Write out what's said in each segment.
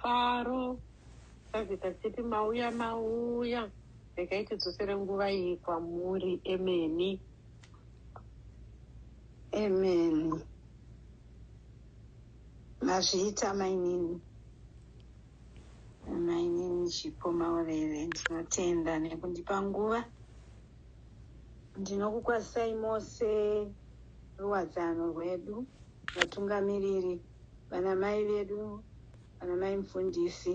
Faro, Tavita Tshipi mauya mauya regai tidzosere nguva iyi kwamuri emeni. Amen. Mazviita mainini. Mainini Chipo Maurere ndinotenda nekundipa nguva. Ndinokukwazisai mose ruwadzano rwedu vatungamiriri. Vana mai vedu, vana mai mufundisi,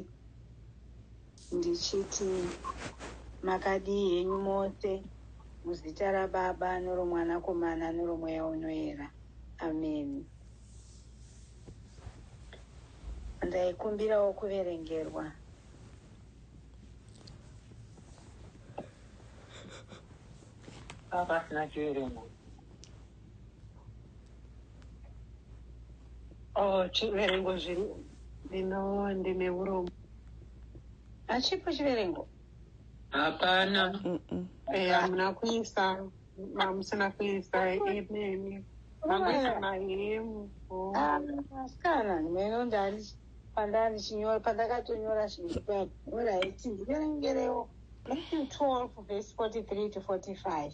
ndichiti makadii henyu mose muzita raBaba noromwanakomana noromweya unoera. Ameni. Ndaikumbirawo kuverengerwa. Apa pasina chiverengo. Oh, chiverengo zvino ndino ndine urombo. Hachipo chiverengo. Hapana. Eh, hamuna kuisa mamusina kuisa imemi. Mamuisa mahemu. Oh. Ah, Asikana, meno ndani pandanga ndichinyora pandakatonyora zvinhu pano. All right, ndiverengerewo. Matthew 12 verse 43 to 45.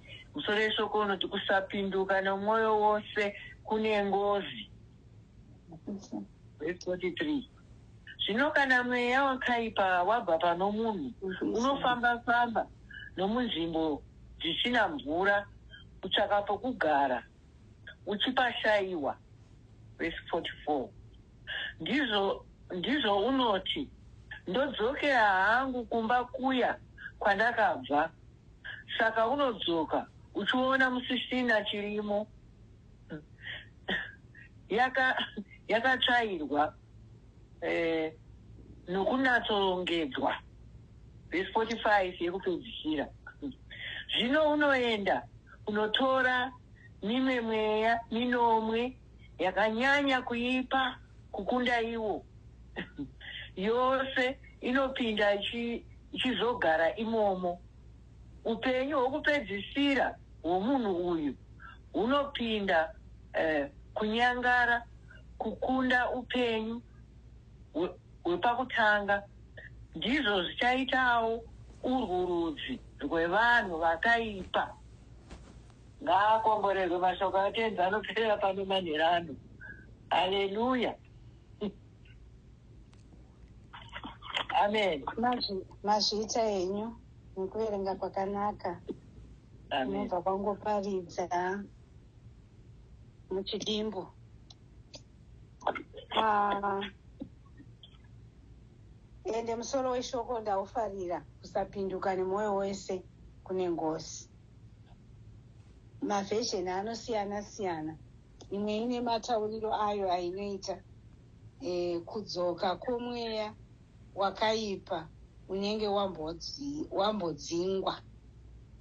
Musoro weshoko unoti kusapinduka nomwoyo wose kune ngozi. Verse 43. Zvino kana mweya wakaipa wabva pano munhu, unofamba-famba nomunzvimbo dzisina mvura, kutsvaka pokugara, uchipashaiwa. Verse 44. Ndizvo, ndizvo unoti, Ndodzokera hangu kumba kuya kwandakabva. Saka unodzoka uchiona musisina chirimo yaka yakatsvairwa eh, nokunatsorongedzwa vhesi 45 yekupedzisira zvino unoenda unotora mimwe mweya minomwe yakanyanya kuipa kukunda iwo yose inopinda ichizogara imomo. Upenyu hwokupedzisira hwomunhu uyu hunopinda eh, kunyangara kukunda upenyu hwepakutanga. Ndizvo zvichaitawo urwu rudzi rwevanhu vakaipa. Ngaakomborerwe mashoko aTenzi anoperera pano manhera ano. Haleluya. Amen. Mazvi, mazviita henyu nekuverenga kwakanaka Amen. unobva kwangoparidza muchidimbu Ah, ende musoro weshoko ndaufarira kusapinduka nemwoyo wese kune ngozi mavhejeni anosiyana siyana imwe ine matauriro ayo ainoita e, kudzoka kwomweya wakaipa unenge wambodzingwa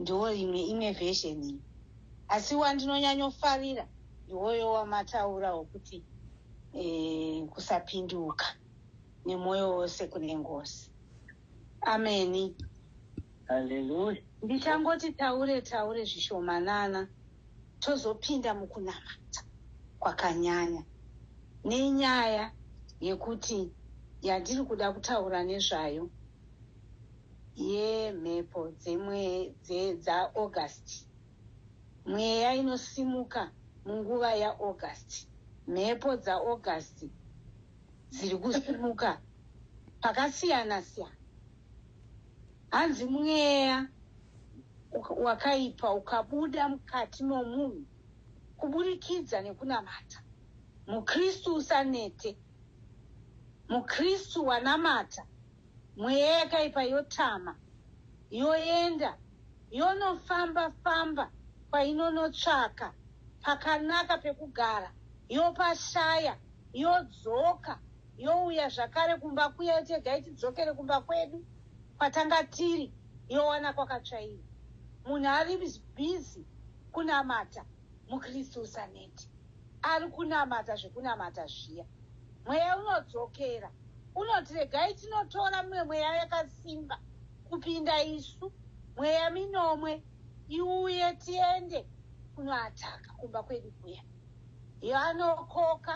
ndiwo imwe imwe vhejeni iyi asi wandinonyanyofarira ndiwoyo wamataura wokuti e, kusapinduka nemwoyo wose kune ngozi ameni Hallelujah. Ndichangoti taure taure zvishomanana tozopinda mukunamata kwakanyanya nenyaya yekuti yandiri kuda kutaura nezvayo yemhepo dzeaugust mweya inosimuka munguva yaaugust mhepo dzaaugust dziri kusimuka pakasiyana siyana Hanzi mweya wakaipa ukabuda mukati momunhu kuburikidza nekunamata, muKristu usanete. MuKristu wanamata, mweya yakaipa yotama, yoenda yonofamba famba kwainonotsvaka pakanaka pekugara, yopashaya, yodzoka youya zvakare kumba kuya yoti regai tidzokere kumba kwedu kwatanga tiri yowana kwakatsvaira munhu ari bhizi kunamata mukristu usaneti ari kunamata zvekunamata zviya mweya unodzokera unoti regai tinotora mimwe mweya yakasimba kupinda isu mweya minomwe iuye tiende kunoataka kumba kwedu kuya Yanokoka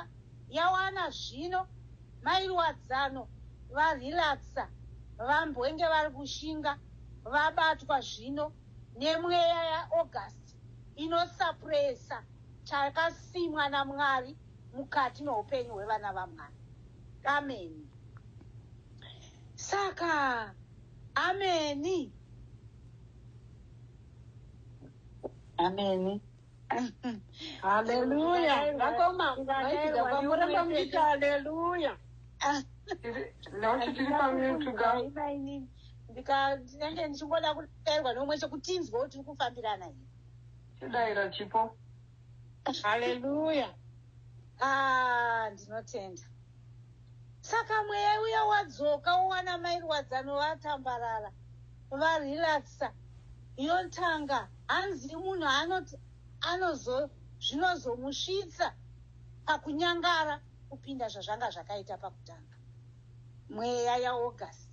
yawana zvino mai Ruwadzano va relaxer vambwenge vari kushinga vabatwa zvino nemweya ya August inosuppressa chakasimwa na Mwari mukati meupenyu hwevana va Mwari. Ameni. Saka Ameni. Ameni. haleluya vakoma vaitidza kwamuramba muita haleluya ndinenge ndichingoda kudairwa nomwe chekutinzwa kuti uri kufambirana i chidaira chipo haleluya ah, ndinotenda Saka mweya uya wadzoka wowana mai Rwadzano vatambarara, varelaxer. Yontanga, hanzi munhu anoti anozo zvinozomusvitsa pakunyangara kupinda zvazvanga zvakaita pakutanga. Mweya yaAugust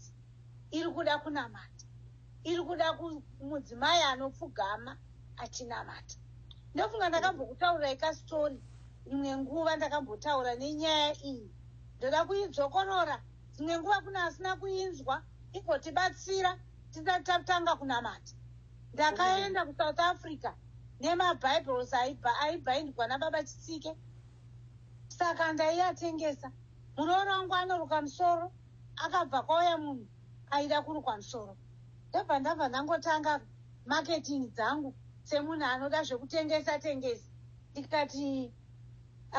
iri kuda kunamata. iri kuda mudzimai anopfugama achinamata ndofunga ndakambokutaurirai kasitori imwe nguva ndakambotaura nenyaya iyi ndoda kuidzokorora dzimwe nguva kune asina kuinzwa igotibatsira tisati tatanga kunamata ndakaenda kusouth africa nemabibles aibhaindwa nababa chitsike saka ndaiatengesa muroora wangu anoruka musoro akabva kwauya munhu aida kurukwa musoro ndobva ndabva ndangotanga marketing dzangu semunhu anoda zvekutengesa tengesa ndikati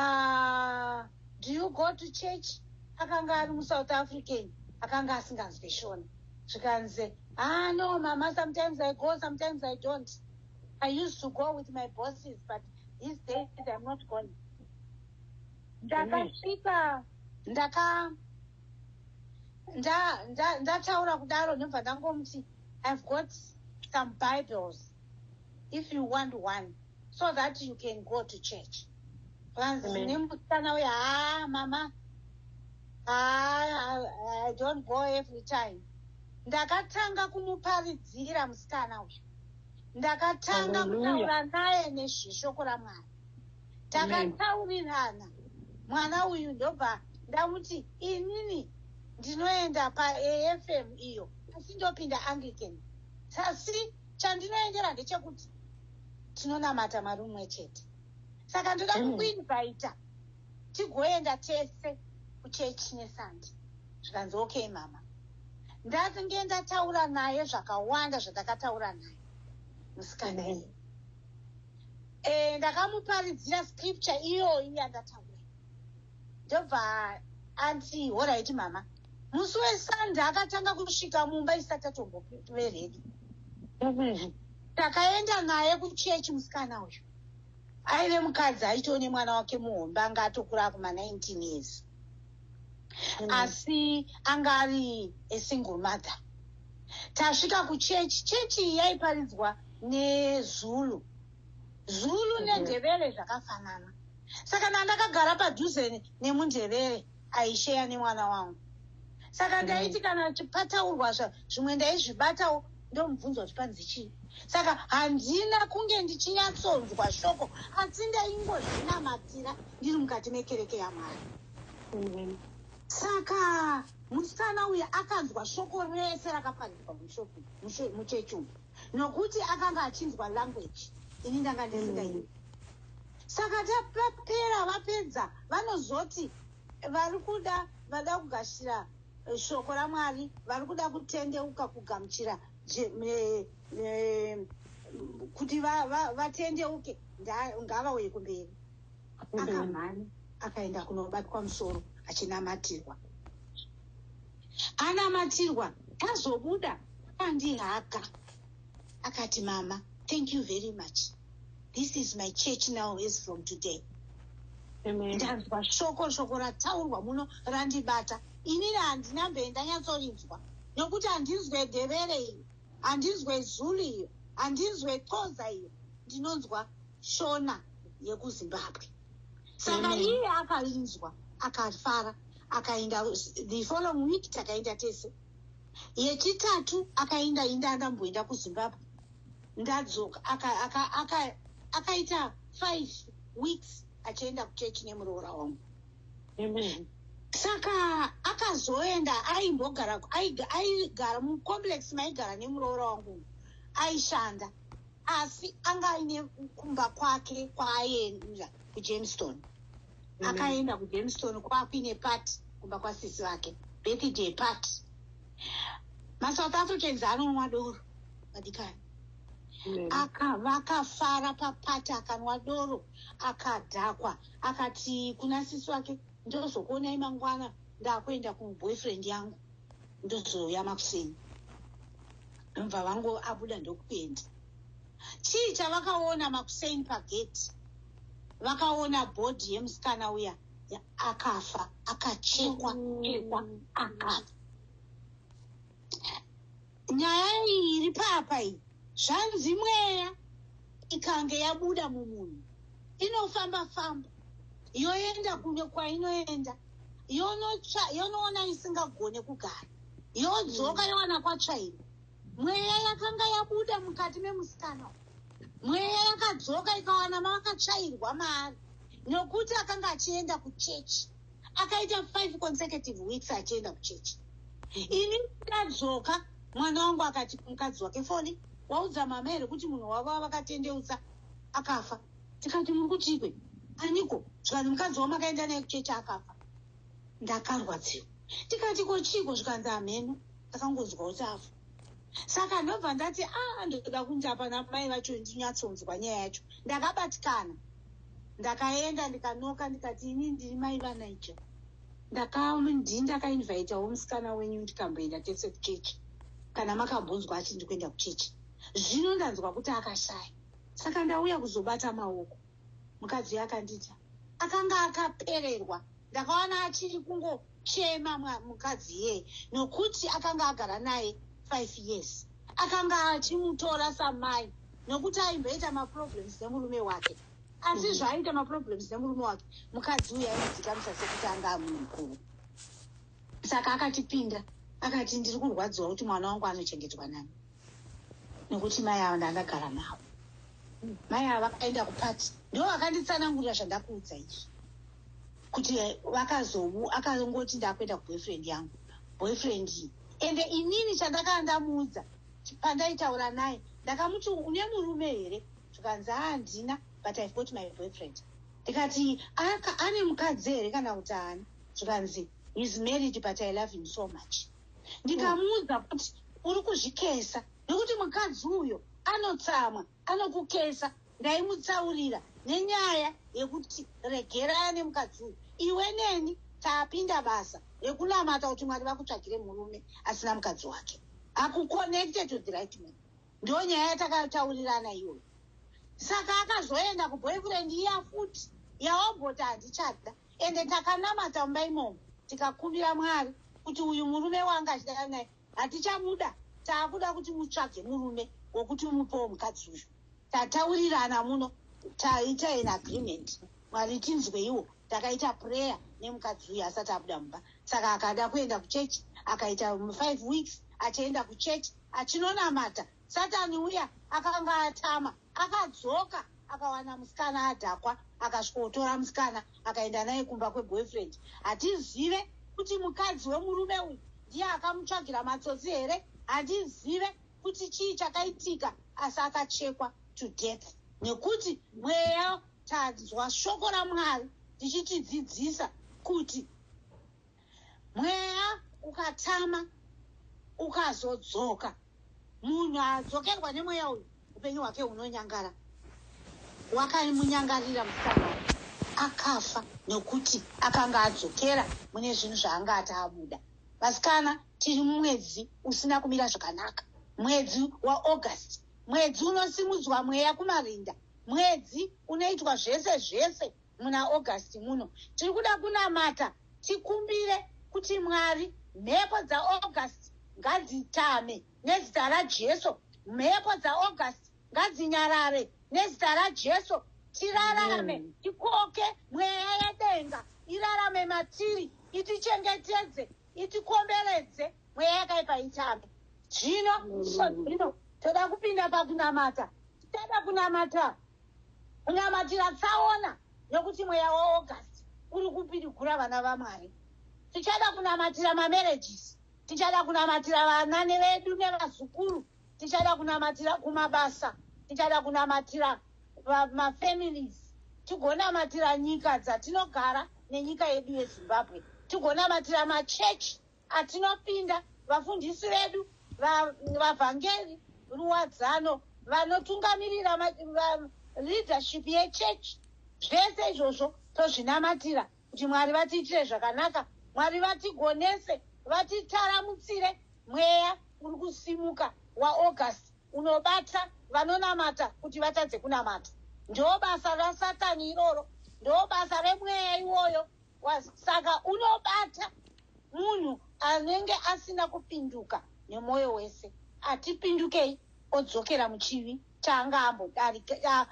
uh, do you go to church akanga ari musouth african akanga asinganzwe shona zvikanzi ah no mama sometimes i go sometimes i don't i used to go with my bosses but these days im not gone ndakasvika ndaka ndataura kudaro ndobva ndangomuti ihave got some bibles if you want one so that you can go to church vanzi nemusikana uya haa ah, mama haa ah, i don't go every time ndakatanga kumuparidzira musikana uyu ndakatanga kutaura naye nezveshoko ramwari takataurirana mwana uyu ndobva ndamuti inini ndinoenda paafm iyo asi ndopinda anglican sasi chandinoendera ndechekuti tinonamata mwari umwe chete saka ndoda mm. kukuinvaita tigoenda tese kuchechi nesande zvikanzi okay mama ndakange ndataura naye zvakawanda zvandakataura naye musikana iye mm. e, ndakamuparidzira scripture iyoyi yandataura ndobva anti horaiti mama musi wesande akatanga kusvika mumba isati atombove redi mm-hmm. takaenda naye kuchechi musikana uyu aive mukadzi aitoo nemwana wake muhombe anga atokura akuma 19 years mm. asi anga ari esingle mother tasvika kuchechi chechi yaiparidzwa nezulu zulu nendebele zvakafanana saka ndandakagara padhuze nemundebele aisheya nemwana wangu saka mm. ndaiti kana pataurwa zvimwe ndaizvibatawo ndomubvunza kuti panzi chii saka handina kunge ndichinyatsonzwa shoko asi ndaingozvinamatira ndiri mukati mekereke yamwari mm. saka musikana uya akanzwa shoko rese rakaparirwa muchechi umu nokuti akanga achinzwa language ini ndanga ndisingaii saka tapera vapedza vanozoti vari kuda vada kugashira eh, shoko ramwari vari kuda kutendeuka kugamuchira kuti vatendeuke ngavauye kumberi akamhani akaenda kunobatwa musoro achinamatirwa anamatirwa azobuda pandihaka akati mama thank you very much this is my church now as from today ndanzwa shoko shoko rataurwa muno randibata ini rahandina mbe ndanyatsorinzwa nokuti handinzwe dhevere iyo handinzwe zulu iyo handinzwe xoza iyo ndinonzwa shona yekuzimbabwe saka iye akainzwa akafara akaenda the following week takaenda tese yechitatu akaenda inda andamboenda kuzimbabwe ndadzoka akaita five weeks achienda kuchechi nemuroora wangu saka akazoenda aimbogara aigara mucomplex maigara nemuroora wangu aishanda asi anga aine kumba kwake kwaaenda kujamestown mm. akaenda kujamestown kwakuine pati kumba kwasisi vake birthday pati masouth africans anonwa doro madikani mm. vakafara papati akanwa doro akadhakwa akati kuna sisi wake ndozokuonai mangwana ndakuenda kuboyfriend yangu ndozouya makuseni ndobva vangu abuda ndokuenda chii chavakaona makuseni pageti vakaona bhodhi yemusikana uya akafa akachekwa chekwa akafa nyaya iyi iri papa iyi zvanzi mweya ikange yabuda mumunhu inofamba famba yoenda kune kwainoenda yonotsva yonoona isingagone kugara yodzoka mm. yowana kwatsvairo mweya yakanga yabuda mukati memusikana mweya yakadzoka ikawana mavakatsvairwa maari nokuti akanga achienda kuchechi akaita five consecutive weeks achienda kuchechi ini ndadzoka mwana wangu akati mukadzi wake foni waudza mama here kuti munhu wavo avakatendeutsa akafa tikati muri kutiikwe aniko zvikanzi mukadzi wavo makaenda naye kuchechi akafa ndakarwadziwa tikati ko chiiko zvikanzi hameno takangonzwa kuti afa saka ndobva ndati a ah, ndoda kuinda pana mai vacho ndinyatsonzwa nyaya yacho ndakabatikana ndakaenda ndikanoka ndikati ini ndiri mai vanaija ndakandii ndakainvaitawo musikana wenyu ndikamboenda tese kuchechi kana makambonzwa ati ndi kuenda kuchechi zvino ndanzwa kuti akashaya saka ndauya kuzobata maoko mukadzi uyo akandita akanga akapererwa ndakaona achiri kungo chema mukadzi iyeye nokuti akanga agara naye five years akanga achimutora samai nokuti aimboita maproblems nemurume wake asi mhm. zvaaita maproblems nemurume wake mukadzi uyu aimudzikamisa sekuti anga amunhu mukuru saka akatipinda akati ndiri kurwadziwa kuti mwana wangu anochengetwa nani nokuti mai avo ndandagara navo mai avo vakaenda kupati ndo vakanditsanangurira zvandakuudza izvi kuti vakazomu akangoti ndakuenda kuboyfriend yangu boyfriend iyi ende inini chandakaa ndamuudza pandaitaura naye ndakamuti une murume here zvikanzi handina but ive got my boyfriend ndikati ane mukadzi here kana kuti haana zvikanzi his married but i love him so much ndikamuudza kuti uri kuzvikesa nekuti mukadzi uyo anotsamwa anokukesa Ndaimutsaurira nenyaya yekuti regerana nemukadzi uyu iwe neni tapinda basa rekunamata kuti mwari vakutsvagire murume asina mukadzi wake akuconnected to the right man ndo nyaya yatakataurirana iyoyo saka akazoenda kuboyfriend iya futi yaomboti handichada ende takanamata mumba imomo tikakumbira mwari kuti uyu murume wanga achidara naye Hatichamuda takuda kuti mutsvage murume wokuti umupewo mukadzi uyu. Tataurirana muno taita an agreement mwari tinzweiwo takaita prayer nemukadzi uyu asati abuda mumba saka akada kuenda kuchechi akaita five weeks achienda kuchechi achinonamata satani uya akanga atama akadzoka akawana musikana adhakwa akasvikotora musikana akaenda naye kumba kweboyfriend hatizive kuti mukadzi wemurume uyu ndiye akamutsvagira matsotsi here handizive kuti chii chakaitika asi akachekwa to death nekuti mweya tanzwa shoko ramwari ndichitidzidzisa kuti mweya ukatama ukazodzoka munhu adzokerwa nemweya uyu upenyu hwake hunonyangara wakamunyangarira musana akafa nokuti akanga adzokera mune zvinhu zvaanga ati abuda vasikana tiri mumwedzi usina kumira zvakanaka mwedzi waaugust mwedzi unosimudzwa mweya kumarinda mwedzi unoitwa zvese zvese muna August muno. Tiri kuda kunamata tikumbire kuti Mwari mhepo dzaAugust ngadzitame nezita raJesu. Mhepo dzaAugust ngadzinyarare nezita raJesu. Tirarame, tikoke mweya yedenga irarame matiri, itichengetedze, itikomberedze mweya yakaipa itame. Zvino, zvino toda kupinda pakunamata. Tichada kunamata. kunamatira tsaona nekuti mweya waaugust uri kupidigura vana vamwari tichada kunamatira mamarriages tichada kunamatira vanani vedu nevazukuru tichada kunamatira kumabasa tichada kunamatira mafamilies tigonamatira nyika dzatinogara nenyika yedu yezimbabwe tigonamatira machechi atinopinda vafundisi vedu vavhangeri va, ruwadzano vanotungamirira leadership yechurch zvese izvozvo tozvinamatira kuti mwari vatiitire zvakanaka mwari vatigonese vatitaramutsire mweya uri kusimuka waaugust unobata vanonamata kuti vatadze kunamata ndo basa rasatani iroro ndo basa remweya iwoyo was saka unobata munhu anenge asina kupinduka nemwoyo wese atipindukei odzokera muchivi chaanga ambodarika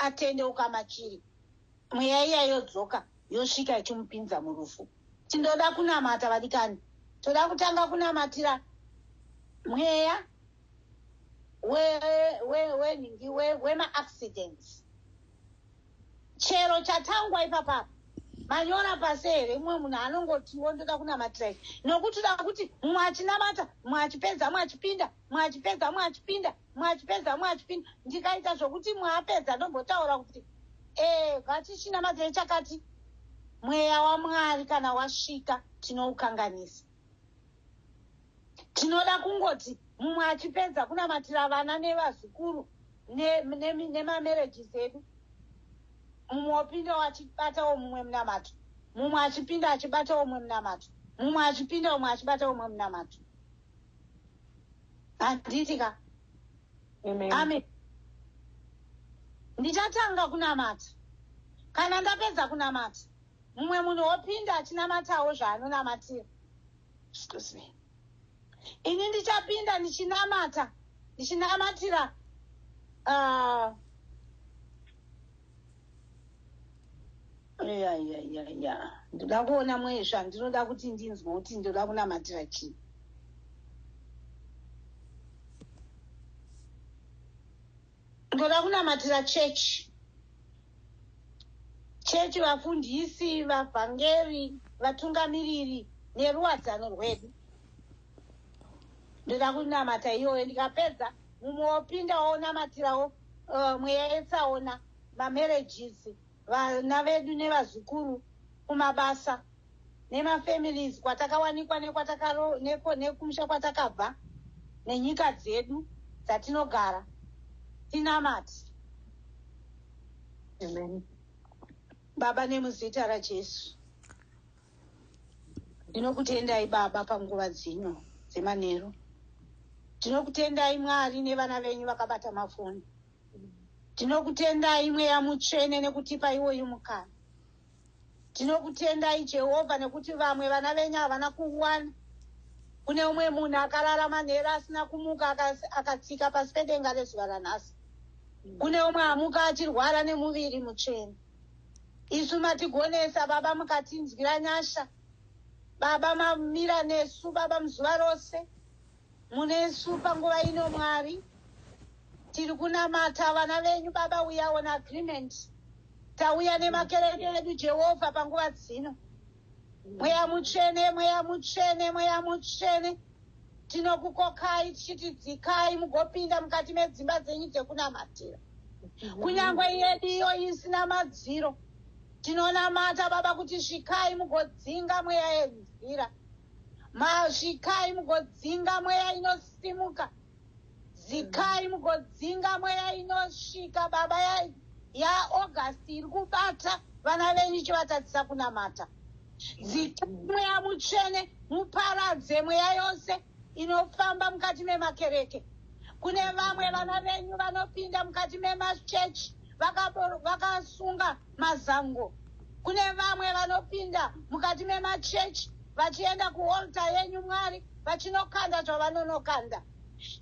atendeuka machiri mweya iya yodzoka yosvika ichimupinza murufu tindoda kunamata vadikani toda kutanga kunamatira mweya wenhingi wemaaccidents chero chatangwa ipapapa manyora pasi here mumwe munhu anongotiwo ndoda kunamatira ichi nokuti da kuti mumwe achinamata mumwe achipedza mumwe achipinda mumwe achipedza mumwe achipinda mumwe achipedza mumwe achipinda ndikaita zvokuti mumwe apedza ndombotaura kuti ee eh, vatichinamatirei chakati mweya wamwari kana wasvika tinoukanganisa tinoda kungoti mumwe achipedza kunamatira vana nevazukuru nemamarriages edu mumwe opindawo achibatawo mumwe munamato mumwe achipinda achibatawo mumwe munamato mumwe achipinda umwe achibatawo mumwe munamato handiti ka amen ndichatanga kunamata kana ndapedza kunamata Mumwe munhu opinda achinamatawo zvaanonamatira. Excuse me. Ini ndichapinda ndichinamata ndichinamatira uh, ya ya ya ya ndoda kuona mwezva ndinoda kuti ndinzwe kuti ndoda kunamatira chii Ndoda kunamatira chechi. Chechi, vafundisi, vavhangeri, vatungamiriri neruwadzano rwedu. Ndoda kunamata iyoyo ndikapedza mumwe wopinda wonamatirawo uh, mweya yetsaona mamarriages vana vedu nevazukuru kumabasa nemafamilies kwatakawanikwa nekwatakaro neko nekumusha kwatakabva nenyika dzedu dzatinogara tinamati Amen. baba nemuzita rajesu ndinokutendai baba panguva dzino dzemanheru ndinokutendai mwari nevana venyu vakabata mafoni Tinokutendai Mweya Mutsvene nekutipa iwoyu mukana. Tinokutendai Jehovha nekuti vamwe vana venyu havana kuwana. Kune umwe munhu akarara manheru asina kumuka akas- akatsika pasi pedenga rezuva ranhasi. Kune umwe amuka achirwara nemuviri mutsvene. Isu matigonesa Baba mukatinzwira nyasha. Baba mamira nesu Baba muzuva rose. Munesu panguva ino Mwari tiri kunamata vana venyu baba we are on agreement tauya nemakereke edu Jehovha panguva dzino mweya mutsvene mweya mutsvene mweya mutsvene tinokukokai tichiti dzikai mugopinda mukati medzimba dzenyu dzekunamatira kunyange yedu iyo isina madziro tinonamata baba kuti svikai mugodzinga mweya yenzira Mazvikai mugodzinga mweya inosimuka. Zikai mugodzinga mweya inosvika baba ya, ya August iri kubata vana venyu ichivatadzisa kunamata. Dzikai mweya mutsvene muparadze mweya yose inofamba mukati memakereke. Kune vamwe vana venyu vanopinda mukati memachechi vakasunga vaka Mazango. Kune vamwe vanopinda mukati memachechi vachienda kuolta yenyu Mwari vachinokanda zvavanonokanda.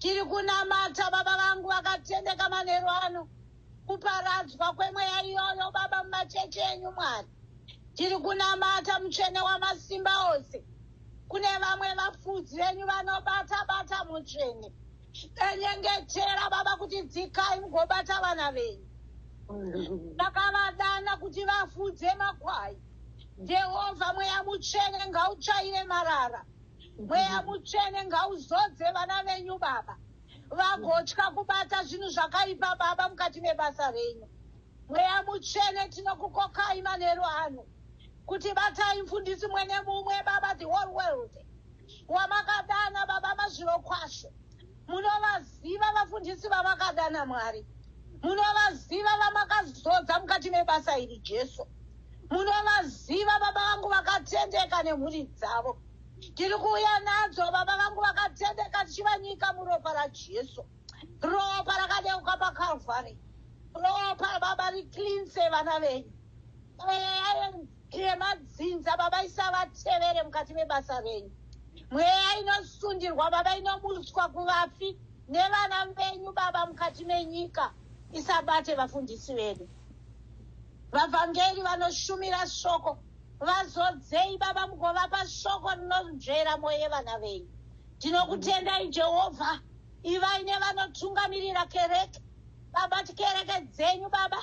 Tiri kunamata baba vangu vakatendeka manheru ano kuparadzwa kwemweya iyoyo baba mumachechi enyu Mwari. Tiri kunamata mutsvene wamasimba ose. Kune vamwe vafudzi venyu vanobata bata mutsvene. Ndanyengetera baba kuti dzikai mugobata vana venyu. Ndakavadana kuti vafudze makwai. Jehovha mweya mutsvene ngautsvaire marara. Mweya mutsvene ngauzodze vana venyu baba. Vagotya kubata zvinhu zvakaipa baba mukati mebasa renyu. Mweya mutsvene tinokukokai manheru ano kuti batai mfundisi mwene mumwe baba the whole world. wamakadana baba mazvirokwasho munovaziva vafundisi vamakadana mwari munovaziva vamakazodza mukati mebasa iri jesu munovaziva baba vangu vakatendeka nemhuri dzavo tiri kuuya nadzo baba vangu vakatendeka tichivanyika muropa rajesu ropa rakadeuka pakalvari ropa baba riclinse vana venyu eya Iye madzinza baba isavatevere mukati mebasa venyu mweya inosundirwa baba inomutswa kuvafi nevana venyu baba mukati menyika isabate vafundisi vedu vavhangeri vanoshumira shoko vazodzei baba mugovapa shoko rinonzvera mwoyo yevana venyu tinokutendai jehovha ivai nevanotungamirira kereke baba tikereke dzenyu baba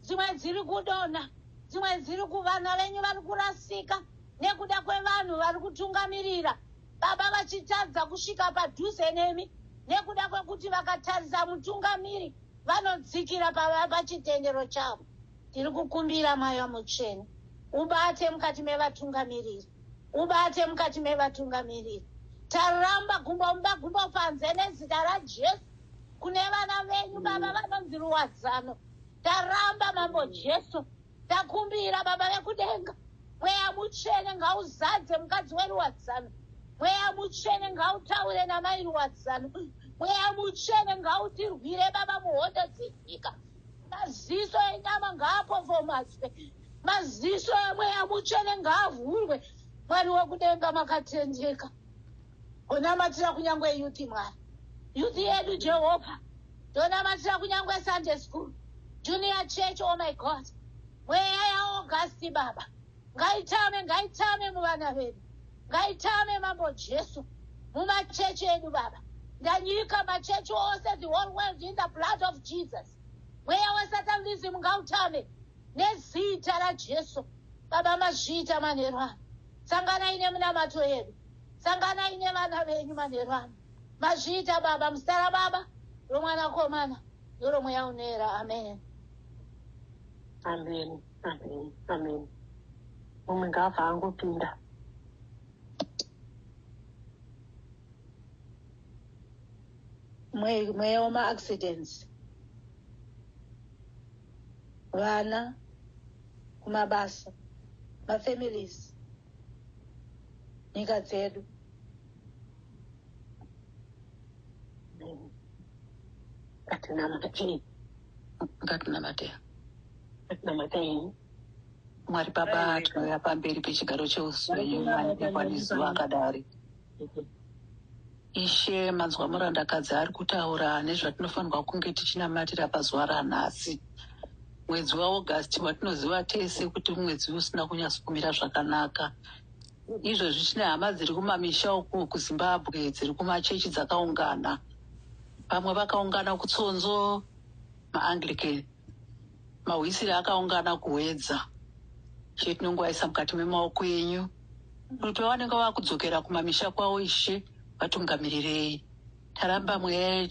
dzimwe dziri kudonha dzimwe dziri kuvana venyu vari kurasika nekuda kwevanhu vari kutungamirira baba vachitadza kusvika padhuze nemi nekuda kwekuti vakatarisa mutungamiri vanodzikira pachitendero chavo tiri kukumbira mweya mutsvene ubate mukati mevatungamiriri ubate mukati mevatungamiriri taramba gumbo mumba gumbo panze nezita rajesu kune vana venyu baba vanonzi ruwadzano taramba mambo jesu takumbira baba vekudenga mweya mutsvene ngauzadze mukadzi weruwadzano mweya mutsvene ngautaure namai ruwadzano mweya mutsvene ngautirwire baba muhondo dzenyika maziso enyama ngaapofomadzwe maziso emweya mutsvene ngaavhurwe mwari wekudenga makatendeka unamatira kunyange yuti mwari yuti yedu jehovha ndonamatira kunyangwe sunday school junior church oh my god mweya yaaugasti baba ngaitame ngaitame muvana vedu ngaitame mambo jesu mumachechi edu baba ndanyika machechi ose the whole world in the blood of jesus mweya wesatan lizimu ngautame nezita rajesu baba mazviita manheru ano sanganai nemunamato yedu sanganai nevana venyu manheru ano Mazviita baba muzita rababa romwana komana noromweya unoera amen amen amen amen mumwe ngaabva angopinda mweya wemaaccidents vana kumabasa mafamilies nyika dzedu ngatinamateyi ngatinamateyi ngatinamateyi mwari baba tinouya pamberi pechigaro cheusunyu manekwanizuva akadari ishe manzwa murandakadzi ari kutaura nezvatinofanirwa kunge tichinamatira pazuva ranhasi mwedzi waaugust watinoziva tese kuti mwedzi usina kunyatsokumira zvakanaka Izvozvi tine hama dziri kumamisha uku kuZimbabwe dziri kumachechi dzakaungana. Vamwe vakaungana kuTsonzo, maAnglican, mahwisiri akaungana kuHwedza. Ishe tinongoaisa mukati memaoko enyu kuti vavanenge vava kudzokera kumamisha kwavo, Ishe vatungamirirei. Taramba mweya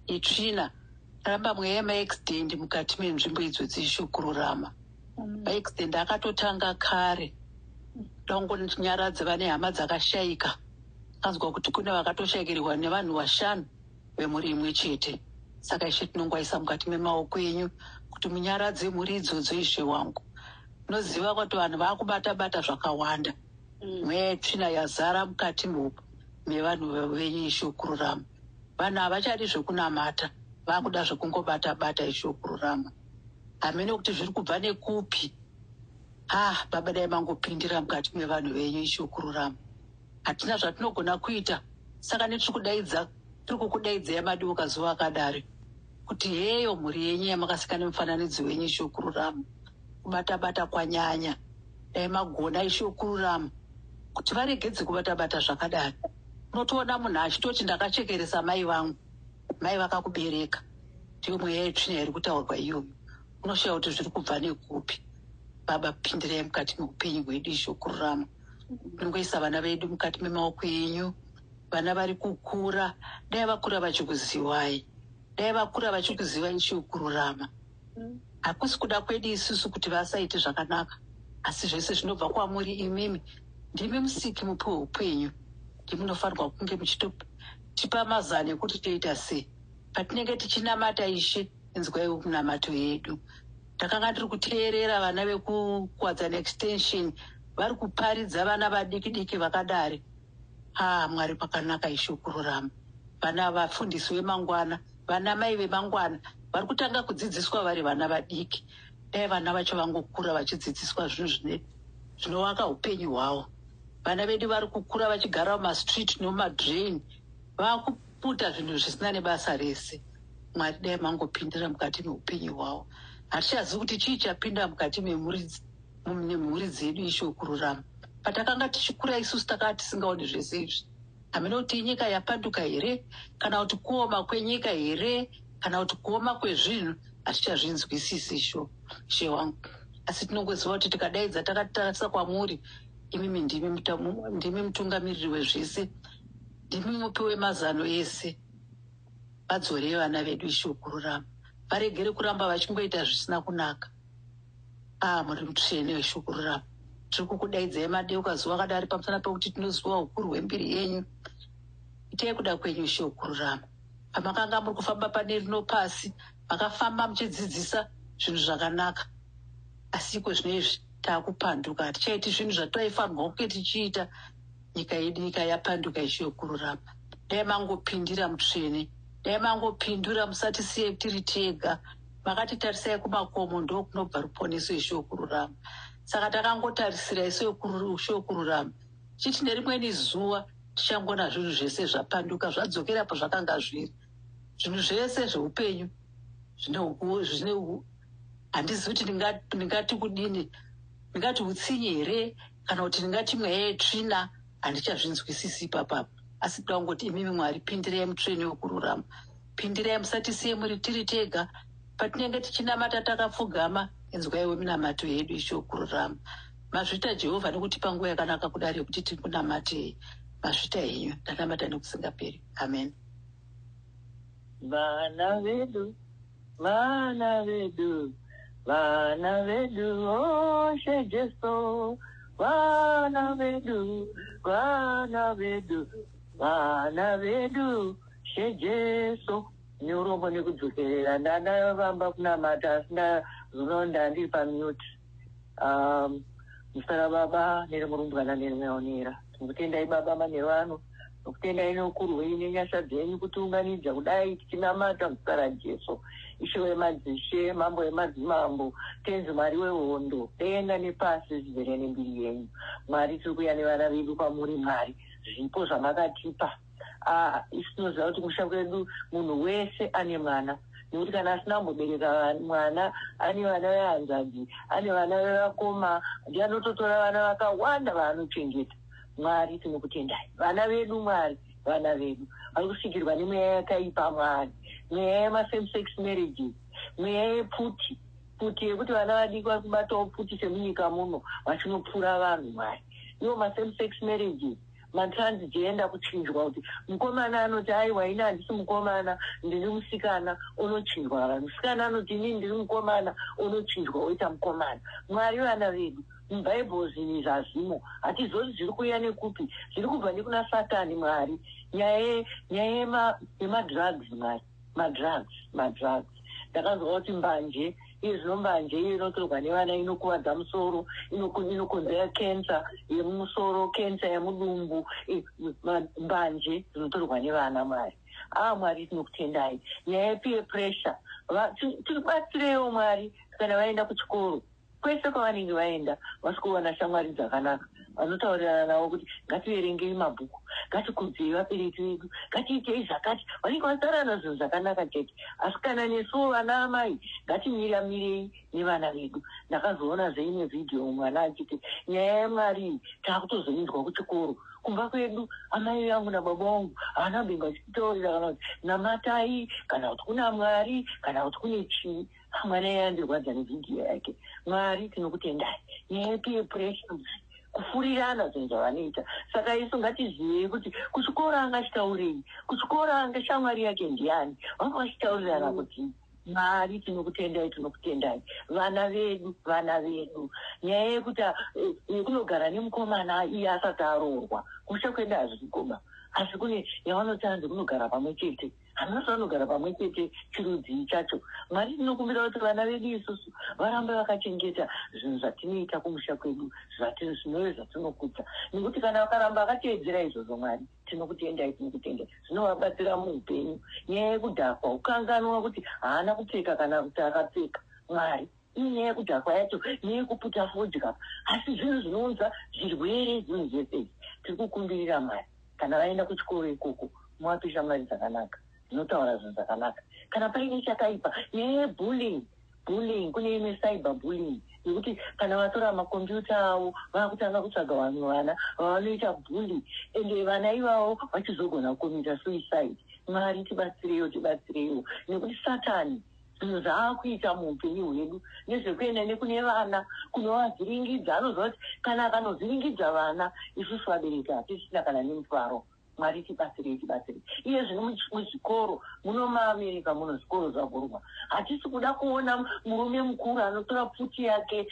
yetsvina, taramba mweya yemaaccident mukati menzvimbo idzodzi, Ishe kururama. accident akatotanga kare dangonyaradzi vane hama dzakashaika anzwa kuti kune vakatoshaikirwa nevanhu vashanu vemhuri imwe chete saka ishe tinongwaisa mukati memaoko enyu kuti munyaradze mhuri idzodzo ishe wangu noziva kuti vanhu vakubata bata zvakawanda mm. mweya yetsvina yazara mukati mopo mevanhu venyu ishokururama vanhu havachadi zvekunamata vakuda zvekungobata bata ishokururama hamene kuti zviri kubva nekupi ah baba dai mangopindira mukati mevanhu venyu ichokururama hatina zvatinogona kuita saka netiri kudaidza tiri kukudaidzai madiuka zuva akadari kuti heyo mhuri yenyu yamakasika nemufananidzo wenyu ichokururama kubatabata kwanyanya dai magona ichokururama kuti varegedze kubatabata zvakadari unotoona munhu achitoti ndakachekeresa mai vangu mai vakakubereka ndiyo mweya yetsvina iri kutaurwa iyoyo unoshaya kuti zviri kubva nekupi baba pindirai mukati meupenyu hwedu izvo kururama nongoisa vana vedu mukati memaoko enyu vana vari kukura dai vakura vachikuziwai dai vakura vachikuziva ichiyo kururama hakusi kuda kwedu isusu kuti vasaite zvakanaka asi zvese zvinobva kwamuri imimi ndimi musiki mupi weupenyu ndimunofanirwa kunge muchitotipa mazano ekuti toita sei patinenge tichinamata ishe inzwaiwo kunamato yedu takanga tiri kuteerera vana vekukwadzana extension vari kuparidza vana vadiki diki vakadari haa mwari pakanaka ishe kururama vana vafundisi vemangwana vana mai vemangwana vari kutanga kudzidziswa vari vana vadiki dai vana vacho vangokura vachidzidziswa zvinhu zvine zvinovaka upenyu hwavo vana vedu vari kukura vachigara mumastreet nomumadrain vaku kuita zvinhu zvisina nebasa rese mwari dai mangopindira mukati meupenyu hwavo hatichazivi kuti chii chapinda mukati memhuri dzedu isho kururama patakanga tichikura isusu takanga tisingaoni zvese izvi hamene kuti inyika yapanduka here kana kuti kuoma kwenyika here kana kuti kuoma kwezvinhu hatichazvinzwisisi sho she wangu asi tinongoziva kuti tikadaidza takatitarisa kwamuri imimi ndimi mutungamiriri wezvese Ndimi mupi wemazano ese. Vadzorei vana vedu Ishe wokururama. Varegere kuramba vachingoita zvisina kunaka. Ah, muri mutsvene Ishe wokururama. Tiri kukudaidzai madeuka zuva kadari pamusana pekuti tinoziva ukuru hwembiri yenyu. Itai kuda kwenyu Ishe wokururama. Pamakanga muri kufamba pane rino pasi, makafamba muchidzidzisa zvinhu zvakanaka. Asi iko zvino izvi takupanduka. Hatichaiti zvinhu zvataifanirwa kunge tichiita. nyika yedu nyika yapanduka ishe yokururama dai mangopindira mutsvene dai mangopindura musatisiye tiri tega makatitarisai kumakomo ndokunobva ruponeso ishe yokururama saka takangotarisira ishe yokururama chiti nerimweni zuva tichangona zvinhu zvese zvapanduka zvadzokera pazvakanga zviri zvinhu zvese zveupenyu zvine handizivi kuti ndingati kudini ndingati utsinye here kana kuti ndingati mweya yetsvina handichazvinzwisisi ipapa asi toda kungoti imimi mwari pindirai mutsvene wekururama pindirai musatisiye muri tiri tega patinenge tichinamata takapfugama inzwaiwe minamato yedu ichokururama mazvita jehovha nekuti panguva yakanaka kudari yekuti tiri kunamatei mazvita henyu ndanamata nekusingaperi amen vana vedu Vana vedu, vana vedu, oshe Jesu, vana vedu, vana vedu, vana vedu, she Jesu. Neurombo nekudzokerera ndanga vamba kunamata asi ndazoona ndandiri pamute. Um, musara baba nere murumbwana nere mwaonera. Tinokutendai baba manheru ano. Ndokutendai noukuru hwenyu nenyasha dzenyu kutiunganidza kudai tichinamata muzita raJesu. Ishe wemadzishe, Mambo wemadzimambo, Tenzi Mwari wehondo, denga nepasi zvizere nembiri yenyu. Mwari, tiri kuuya nevana vedu kwamuri, Mwari, zvipo zvamakatipa. Ah, isu tinoziva kuti kumusha kwedu munhu wese ane mwana nekuti kana asina kumbobereka va- mwana ane vana vehanzvadzi ane vana vevakoma ndiye anototora vana vakawanda vaanochengeta Mwari tinokutendai vana vedu Mwari vana vedu vari kusikirwa nemweya yakaipa Mwari mweya yemasame sex marriages mweya yepfuti pfuti yekuti vana vadiki vari kubatawo pfuti semunyika muno vachinopfura vanhu Mwari iwo masame sex marriages matransgender kuchinjwa kuti mukomana anoti aiwa ini handisi mukomana ndiri musikana onochinjwa musikana anoti inini ndiri mukomana onochinjwa oita mukomana Mwari vana vedu Mubible zvinhu izvi hazvimo. Hatizozi zviri kuuya nekupi. Zviri kubva nekuna satani Mwari. Nyaya ye nyaya yema yema drugs Mwari. Ma drugs, ma drugs. Ndakanzwa kuti mbanje iye zvino mbanje iyo inotorwa nevana inokuvadza musoro inoku- inokonzera cancer yemumusoro cancer yemudumbu i- ma- mbanje dzinotorwa nevana Mwari. Ah Mwari tinokutendai. Nyaya yepeer pressure. Va- ti- Tibatsireiwo Mwari kana vaenda kuchikoro. Kwese kwavanenge vaenda, vasvikowana shamwari dzakanaka, vanotaurirana navo kuti ngativerengei mabhuku, ngatikudzei vabereki vedu, ngatiitei zvakati. Vanenge vataurirana zvinhu zvakanaka chete. Asi kana nesuwo vanaamai ngatimiramirei nevana vedu. Ndakazoonazve imwe vhidhiyo mwana achiti, Nyaya yaMwari iyi takutozoinzwa kuchikoro. Kumba kwedu amai vangu nababa vangu havana kumbenge vachititaurira kana kuti namatai kana kuti kuna Mwari kana kuti kune chii. Ah, mwana iye andirwadza nevidhiyo yake mwari tinokutendai nyaya yepeer pressure kufurirana zvinhu zvavanoita saka isu ngatizivei kuti kuchikoro angachitaurei kuchikoro ange shamwari yake ndiani vanga vachitaurirana kuti mwari tinokutendai tinokutendai vana vedu vana vedu nyaya yekuti ah, eh, yekunogara nemukomana iye asati aroorwa kusha kwenda hazvikoba asi kune yavanoti hanzi kunogara pamwe chete hanasi vanogara pamwe chete chirudzii chacho mwari tinokumbira kuti vana vedu isusu varambe vakachengeta zvinhu zvatinoita kumusha kwedu zvatinozvinove zvatinokudza nekuti kana vakaramba vakateedzera izvozvo mwari tinokutendai tinokutendai zvinovabatsira muupenyu nyaya yekudhakwa ukanganwa kuti haana kupfeka kana kuti akapfeka mwari Iyi nyaya yekudhakwa yacho neyekuputa fodya asi zvinhu zvinounza zvirwere zvinhu zvese izvi. Tiri kukumbirira Mwari kana vaenda kuchikoro ikoko muvape shamwari dzakanaka dzinotaura zvinhu zvakanaka. Kana paine chakaipa nyaya yebullying bullying kune imwe cyber bullying yekuti kana vatora makombiyuta avo vakutanga kutsvaga vamwe vana vavanoita bully ende vana ivavo vachizogona kukomita suicide. Mwari tibatsireiwo tibatsireiwo nekuti satani zvinhu zvaakuita muupenyu hwedu nezvekuenda nekune vana kunovavhiringidza anoziva kuti kana akanovhiringidza vana isusu vabereki hatisisina kana nemufaro mwari tibatsirei tibatsirei iye zvino muzvikoro muno maamerika muno zvikoro zvavhurwa hatisi kuda kuona murume mukuru anotora pfuti yake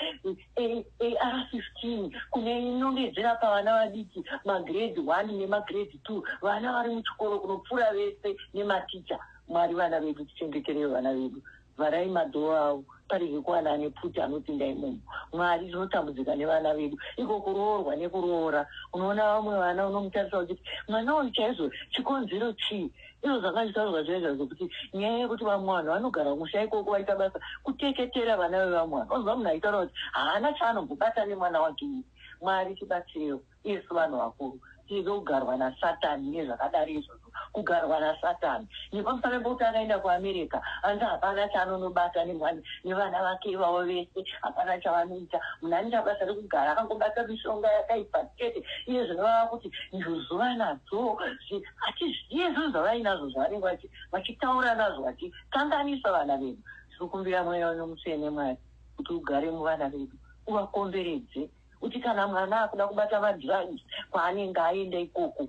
ar 15 kune inongedzera pavana vadiki magrade 1 nemagrade 2 vana vari muchikoro kunopfuura vese nematicha Mwari vana vedu tichengeterei vana vedu vharai madoor avo parege kuwana ane pfuti anopinda imomo mwari tinotambudzika nevana vedu iko kuroorwa nekuroora unoona vamwe vana unomutarisa uchiti mwana uyu chaizvo chikonzero chii izvo zvanga zvitaurwa zviya zva zvekuti nyaya yekuti vamwe vanhu vanogara musha ikoko vaita basa kuteketera vana vevamwe vanhu onzwa munhu aitaura kuti haana chaanombobata nemwana wake mwari tibatsirewo Isu vanhu vakuru tizive kugarwa nasatan nezvakadari izvozvo kugarwa nasatan nepamusana pekuti akaenda kuamerica hanzi hapana chaanonobata nemhani nevana vake ivavo vese hapana chavanoita munhu anoita basa rekugara akangobata mishonga yakaipa chete iye zvino vava kuti ndozuva nadzo hatizviye zvinhu zvavainazvo zvavanenge vachitaura nazvo vachikanganisa vana vedu tiri kumbira mweya weno mutsvene mwari kuti ugare muvana vedu uvakomberedze kuti kana mwana akuda kubata vandivanyi kwaanenge aenda ikoko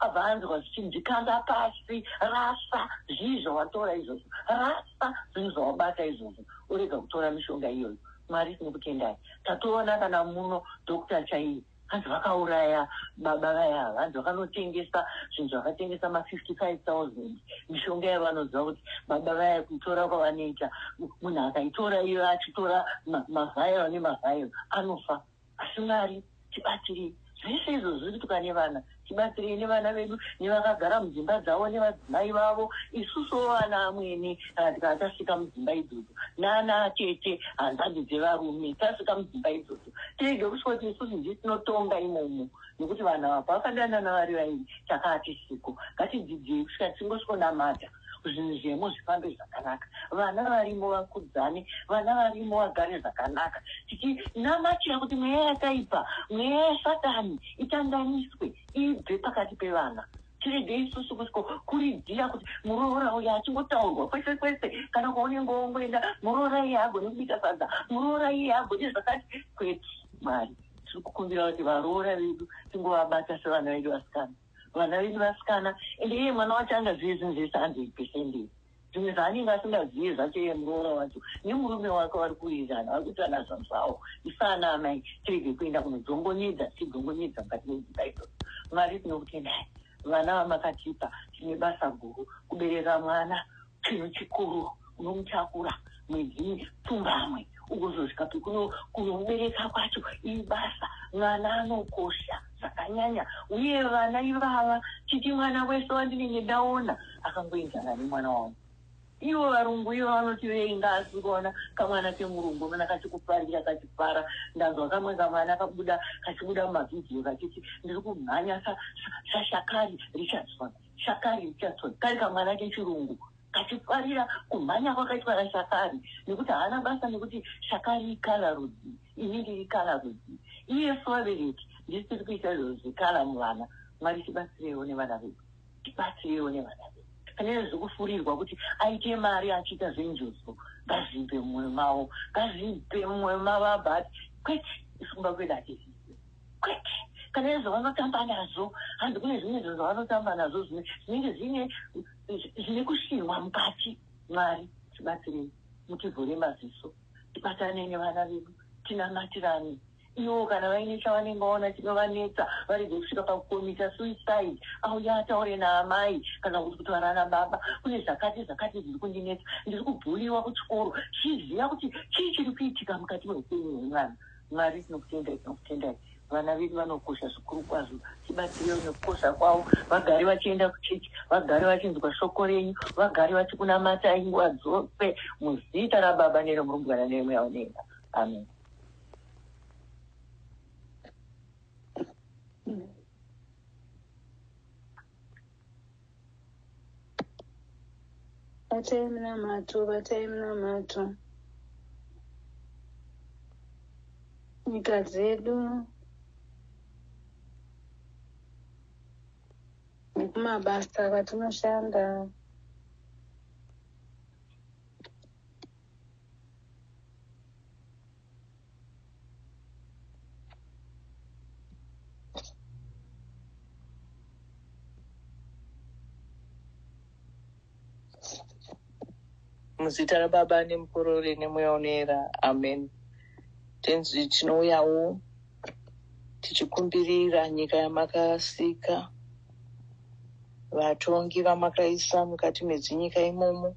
abva anzwa zvichinzi kanda pasi rasa zvii zvawatora izvozvo rasa zvinhu zvawabata izvozvo orega kutora mishonga iyoyo mwari tinokutendai tatoona kana muno dokta chaiye hanzi vakauraya baba vaya vanzi vakanotengesa zvinhu zvakatengesa ma 55 000 mishonga yavanoziva kuti baba vaya kuitora kwavanoita munhu akaitora iyo achitora mavhairo nemavhairo anofa asi mwari tibatirei zvese izvo zviri kutuka nevana tibatsirei nevana vedu nevakagara mudzimba dzavo nevadzimai vavo isusuwo vana amwene kana tikana tasvika mudzimba idzodzo nana tete hanzvadzi dzevarume tasvika mudzimba idzodzo tirege kusvika kuti isusu ndisinotonga imomo nokuti vanhu ava pavakadanana vari vairi chakati siko ngatidzidzei kusvika tichingosvonamata zvinhu zvemo zvifambe zvakanaka vana varimo vakudzane vana varimo vagare zvakanaka tichinamatira kuti mweya yakaipa mweya yasatani itandaniswe ibve pakati pevana tirege isusu kusiko kuridzira kuti muroora uyo achingotaurwa kwese kwese kana kwaunenge wongoenda muroora iye agone kubika sadza muroora iye agone zvakati kwete mwari tiri kukumbira kuti varoora vedu tingovabata sevana vedu vasikana vana vedu vasikana ende iye mwana wacho angazive zvinhu zvese 100 percent izvi zvimwe zvaanenge asingazive zvacho iye muroora wacho nemurume wake vari kuwirirana vari kuti ana zvazawo isaana amai tirege kuenda kunodzongonyedza tichidongonyedza mukati medzimba idzo mwari tinokutendai vana vamakatipa tine basa guru kubereka mwana Chinhu chikuru unomutakura mwedzi pfumbamwe ugozosvika pekuno kunomubereka kwacho ibasa mwana anokosha zvakanyanya uye vana ivava chiti mwana wese wandinenge ndaona akangoenzana nemwana wangu ivo varungu ivo vanoti veinga asi kuona kamwana kemurungu unoona kachikufarira kachifara ndanzwa kamwe kamwana kabuda kachibuda mumavhidhiyo kachiti ndiri kumhanya sashakari richardsona Shakari Richardson kari kamwana kechirungu kachifarira kumhanya kwakaitwa naShakari nekuti haana basa nekuti Shakari ikala rudzi ini ndiri kala rudzi iye sevabereki ndisiri kuita izvozvo zvekala muvana mwari tibatsireiwo nevana vedu tibatsireiwo nevana vedu pane zvekufurirwa kuti aite mari achiita zvenjuzu ngazvipe mumwoyo mavo ngazvipe mumwoyo mavo abati kwete isimba kwedu hatizii kwete kana izvo vanotamba nazvo hanzi kune zvimwe zvinhu zvavanotamba nazvo zvimwe zvinenge zvine zvine kushinwa mukati mwari tibatsirei mutivhure maziso tibatane nevana vedu tinamatirane iwo kana vaine chavanenge vaona chinovanetsa varege kusvika pakukomita suicide auya ataure naamai kana kuti kutaura nababa kune zvakati zvakati zviri kundinetsa ndiri kubhuliwa kuchikoro chiziva kuti chii chiri kuitika mukati meupenyu hwemwana Mwari tinokutendai tinokutendai vana vedu vanokosha zvikuru kwazvo tibatsirewo nekukosha kwavo vagare vachienda kuchechi vagare vachinzwa shoko renyu vagare vachikunamatai nguva dzose muzita rababa neremurumbwana neremweya unenga amen Batai munamato, batai munamato. Nyika dzedu nekumabasa kwatinoshanda. muzita rababa nemukorore nemweya unoera amen tenzi tinouyawo tichikumbirira nyika yamakasika vatongi vamakaisa mukati medzinyika imomo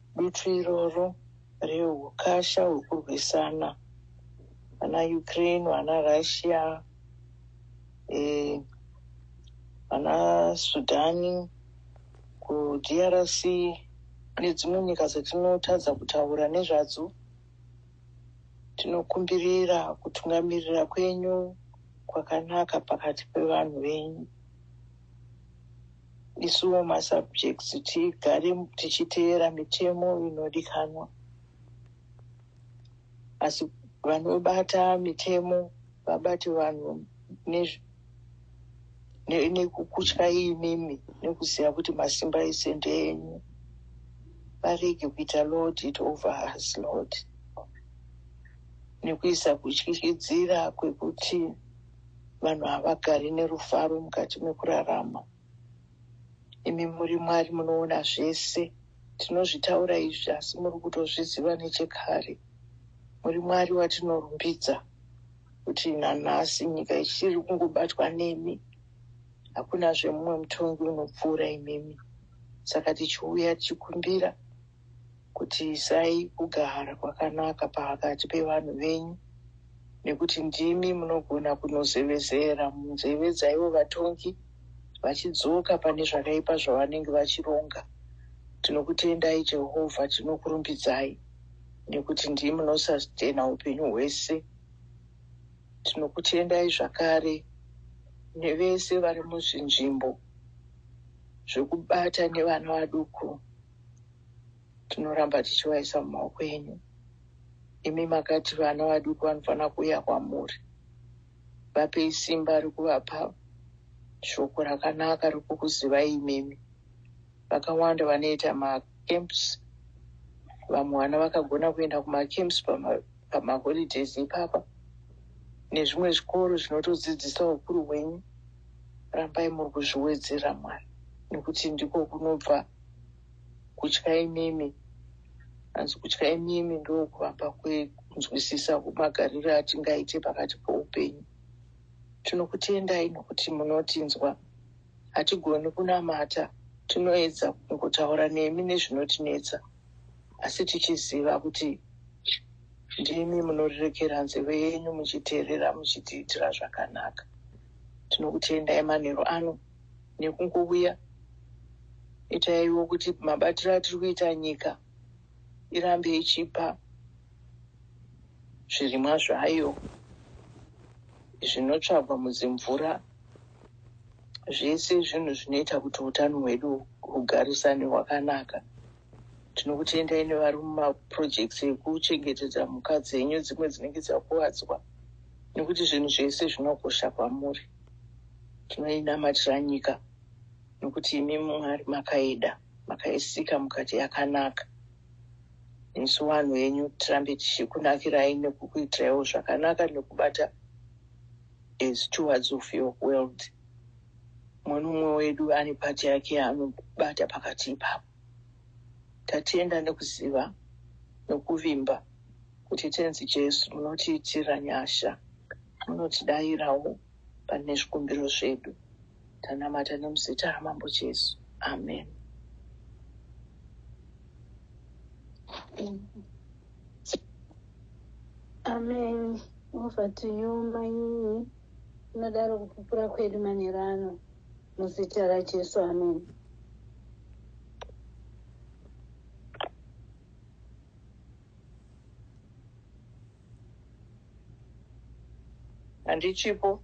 Dutu iroro rehukasha hwekurwisana vana Ukraine, vana Russia, eh, vana Sudani, kuDRC nedzimwe nyika dzatinotadza kutaura nezvadzo. Tinokumbirira kutungamirira kwenyu kwakanaka pakati pevanhu venyu. isuwo masubjects tigare tichiteera mitemo inodikanwa asi vanobata mitemo vabati vanhu nekukutya imimi nekuziva kuti masimba ese ndeenyu varege kuita lord it over us lord nekuisa kutyisidzira kwekuti vanhu havagari nerufaro mukati mekurarama imi muri mwari munoona zvese tinozvitaura izvi asi muri kutozviziva nechekare muri mwari watinorumbidza kuti nanhasi nyika ichiri kungobatwa nemi hakuna zvemumwe mutongi unopfuura imimi saka tichiuya tichikumbira kutiisai kugara kwakanaka pakati pevanhu venyu, nekuti ndimi munogona kunozevezera munzeve dzaivo vatongi vachidzoka pane zvakaipa zvavanenge vachironga. Tinokutendai Jehovha, tinokurumbidzai nekuti ndimi munosastena upenyu hwese. Tinokutendai zvakare nevese vari muzvinzvimbo zvekubata nevana vaduku. tinoramba tichivaisa mumaoko enyu imi makati vana vaduku vanofanira kuuya kwamuri vapei simba rekuvapa shoko rakanaka rekukuzivai imimi vakawanda vanoita macamps vamwe vana vakagona kuenda kumacamps pamaholidays ipapa nezvimwe zvikoro zvinotodzidzisa ukuru hwenyu rambai muri kuzviwedzera mwana nekuti ndiko kunobva kutya imimi hanzi kutya imimi ndokuvapa kwekunzwisisa kumagariro atingaite pakati poupenyu tinokutendai nokuti munotinzwa hatigoni kunamata tinoedza kungotaura nemi nezvinotinetsa asi tichiziva kuti ndimi munorirekera nzeve yenyu muchiteerera muchitiitira zvakanaka tinokutendai manheru ano nekungovuya itaiwo kuti mabatiro atiri kuita nyika irambe ichipa zvirimwa zvayo zvinotsvagwa mudzimvura zvese zvinhu zvinoita kuti utano hwedu hugarisane hwakanaka tinokutendai nevari mumaprojects ekuchengetedza mhuka dzenyu dzimwe dzinenge dzakuvadzwa nekuti zvinhu zvese zvinokosha kwamuri tinoinamatira nyika nekuti imi mwari makaida makaisika mukati yakanaka isu vanhu venyu tirambe tichikunakirai nekukuitiraiwo zvakanaka nekubata as towards of your world mwenomwe wedu ane pati yake anobata pakati ipapo Tatenda nekuziva nokuvimba kuti Tenzi Jesu munotiitira nyasha, munotidairawo pane zvikumbiro zvedu. Tanamata nemuzita raMambo Jesu. Amen. Amen. Over to you mainini. Tinodaro kupupura kwedu manheru ano. Muzita raJesu, amen. Handichipo.